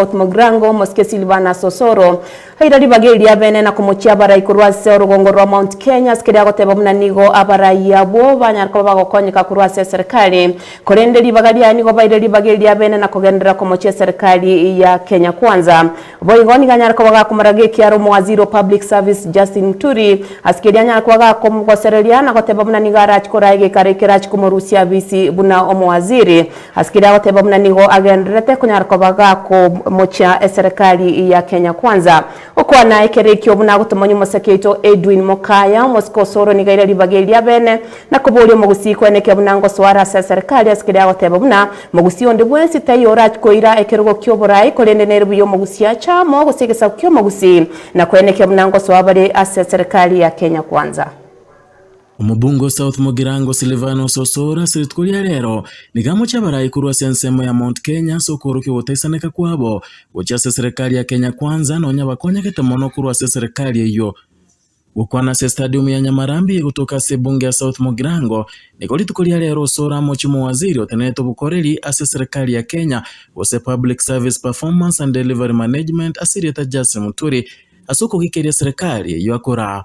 Omogrango omosike Silvanus Osoro aira ribaga eria abene na komochia abarai korwa ase orogongo rwa Mount Kenya ase keria agoteba buna nigo abarai abwo banyare koba bagokonyeka korwa ase eserikari korende ribaga riaye nigo baire ribaga eria abene na kogenderera komochia eserikari ya Kenya Kwanza boigo nigo anyare koba gakomoraga ekiara omowaziri o public service Justin Muturi ase keria anyare koba gakomogosereria na goteba buna nigo arachikoraa egeikaro ekerachi komorusia abisi buna omowaziri Ase keria agoteba buna nigo agendererete konyara koba gakomochia eserekari ya Kenya Kwanza. Gokwana ekero ekio buna agotomania omosake oito Edwin Mokaya, omosike osore nigo aire ribaga eria beene na koboria omogusii kweneke buna ngosoa are ase eserekari ase keria agoteba buna mogusii onde bwensi taiyo orakoira ekerogo ki'oborai korende nere buya omogusii ache amo gose egesaku ki'omogusii na kweneke buna ngosoa bare ase eserekari ya Kenya Kwanza. Omobunga o South Mugirango Silvanus Osoro ase rituko ria rero nigo amochia abarai korwa ase ensemo ya Mount Kenya ase okoorokia ogotaisaneka kwabo gochia ase eserekari ya Kenya Kwanza nonya bakonyegete mono korwa ase eserekari eyio. Gokwana ase estadium ya Nyamarambi egotoka ase ebunge ya South Mugirango nigo rituko ria rero Osoro amochia omowaziri otenenerete obokoreri ase eserekari ya Kenya gose Public Service Performance and Delivery Management ase erieta Justin Muturi ase okogikeria eserekari eyio akora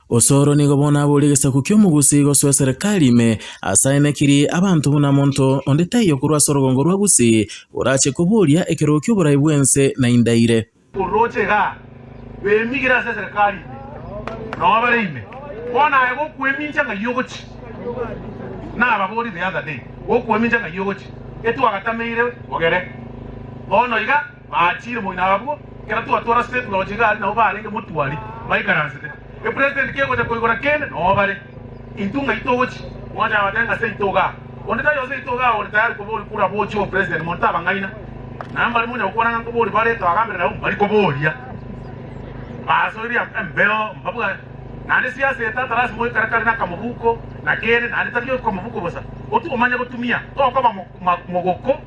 Osoro nigo bono aboria egesaku ki'omogusi gosoa eserekari ime, ase aye nekiri abanto buna monto onde taiyo korwa ase orogongo rwa Gusii orache koboria ekerogo ki'oborai bw'ense na indaire. Orooche igaa, bemigire ase eserekari ime, nao bare ime, bono aye gokwemincha ng'ai ogochi? Nababorie the other day, gokwemincha ng'ai ogochi? Etwagatameire ogere bono iga. Aachire moino abwo, ekero twatora State Lodge iga aria nabo barenge motwari baikaransete. Epresident kegocha koigora kende noo bare. Intwe ng'ai togochi? Mwache abatebe ng'a seito igaa. Onde tari oo seito igaa ore tayari koba ori kura gochia obopresident monto abang'aina. Na mbari monyare gokwana ng'a nkobori bare twagambere nabo mbari koboria. Basoirie embeo mbabua naende siasa eye tata lasima oikare kare nakamobuko na kere naende tari okomobuko bosa. Otu omanye gotumia tokoba mogoko.